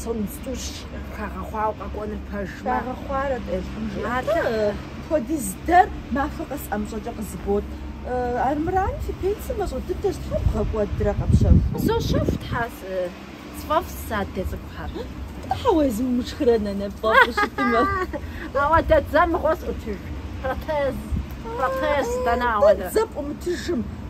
Сом зытӏущ хагъэхъуауэ къэкӏуэныр пэжмэ. Хагъэхъуарэт, Алыхьым жиӏи. Апхуэдиз дэр махуэ къэс ӏэмыщӏэкӏэ къызыбот. Армырами, фи пенсэ мащӏэ дыдэщ, щхьэ бгъэкӏуэдрэ къэпщэхуу. Сощэху, Тхьэ, сфӏэфӏ сэ а дэ цӏыкӏухэр. Щхьэ уэ езым умышхрэ, нанэ, пфӏэфӏу щытмэ. Ауэдэ, дзэ мыгъуэ сӏутыж, протез, протез, дэнэ ауэдэ. Дэ дзэ пӏумытыжым.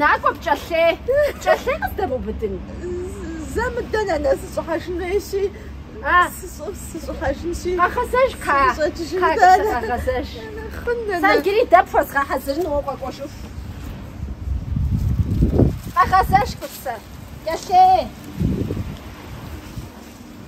Накӏуэ, пкӏэлъей! Пкӏэлъей къыздэбубыдын! Зэ мыдэ, нанэ, сыщӏыхьэжын хуейщи, сыщӏыхьэжынщи. Къэгъэзэж, Ка! Ка, къэгъэзэж. Хъун, нанэ. Сэ иджыри дэ пхуэзгъэхьэзырын укъэкӏуэжыху. Къэгъэзэж, Кӏуцэ. Пкӏэлъей!